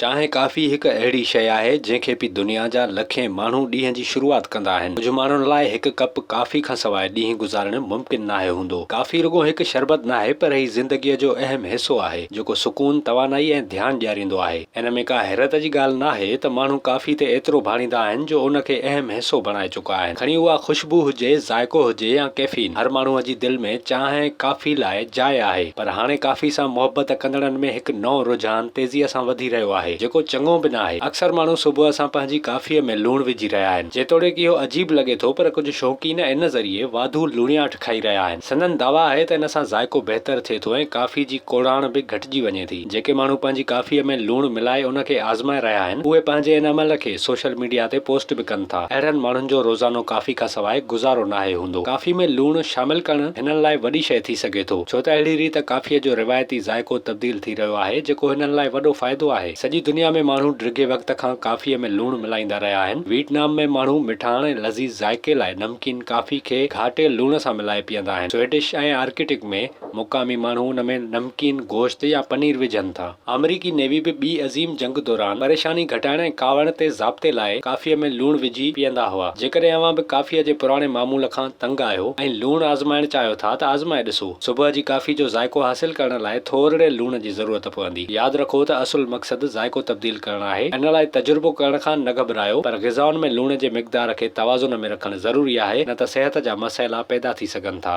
چانهه ڪافي هڪ اهڙي شيء آهي جنهن کي پي دنيا جا لکين ماڻهو ڏينهن جي شروعات ڪندا آهن. ڪجهه ماڻهن لاء هڪ ڪپ ڪافي کان سواء ڏينهن گذارڻ ممڪن ناهي هوندو. ڪافي رڳو هڪ شربت ناهي پر هي زندگيء جو اهم حصو آهي جيڪو سڪون، توانائي ۽ ڌيان ڏياريندو آهي. ان ۾ ڪا حيرت جي ڳالهه ناهي ته ماڻهو ڪافي تي ايترو ڀاڙيندا آهن جو ان کي اهم حصو بڻائي چڪا. چڪا آهن. کڻي اها خوشبو هجي، ذائقو هجي يا ڪيفين، هر ماڻهوء جي دل ۾ چانهه ۽ ڪافي لاء جاء آهي. پر هاڻي ڪافي سان محبت ڪندڙن ۾ هڪ نئون رجحان تيزيء سان وڌي رهيو آهي، جيڪو چڱو به ناهي. اڪثر ماڻهو صبح سان پنهنجي ڪافيء ۾ لوڻ وجهي رهيا آهن. جيتوڻيڪ اهو عجيب لڳي ٿو، پر ڪجهه شوقين ان ذريعي واڌو لوڻياٺ، کائي رهيا آهن. سندن دعويٰ آهي ته ان سان ذائقو بهتر ٿئي ٿو ۽ ڪافي جي ڪوڙاڻ به گهٽجي وڃي ٿي. جيڪي ماڻهو پنهنجي ڪافيء ۾ لوڻ ملائي ان کي آزمائي رهيا آهن، اهي پنهنجي ان عمل کي سوشل ميڊيا تي پوسٽ به ڪن ٿا. اهڙن ماڻهن جو روزانو ڪافي کان سواء گذارو ناهي هوندو. ڪافي ۾ لوڻ شامل ڪرڻ هنن لاء وڏي شيء ٿي سگهي ٿو، ڇو ته اهڙي ريت ڪافيء جو روايتي ذائقو تبديل ٿي رهيو آهي، جيڪو هنن لاء وڏو فائدو آهي. سڄي دنيا ۾ ماڻهو ڊگهي وقت کان ڪافيء ۾ لوڻ ملائيندا رهيا آهن. ويٽنام ۾ ماڻهو مٺاڻ ۽ لذيذ ذائقي لاء ڪين ڪافي کي گهاٽيل لوڻ سان ملائي پيئندا آهن. سوئڊش ۽ آرڪٽڪ ۾ مقامي ماڻهو ان ۾ نمڪين گوشت يا پنير وجهن ٿا. آمريڪي نيوي به ٻي عظيم جنگ دوران پريشاني گهٽائڻ ۽ ڪاوڙ تي ضابطي لاء ڪافيء ۾ لوڻ وجهي پيئندا هئا. جيڪڏهن اوهان به ڪافيء جي پراڻي معمول کان تنگ آهيو ۽ لوڻ آزمائڻ چاهيو ٿا ته آزمائي ڏسو. صبح جي ڪافي جو ذائقو حاصل ڪرڻ لاء ٿورڙي لوڻ جي ضرورت پوندي. ياد رکو ته اصل مقصد ذائقو تبديل ڪرڻ آهي ان لاء تجربو ڪرڻ کان نه گهٻرايو پر غذائن ۾ لوڻ جي مقدار کي توازن ۾ رکڻ ضروري آهي نه ته صحت جا مسئلا پيدا ٿي سگهن ٿا.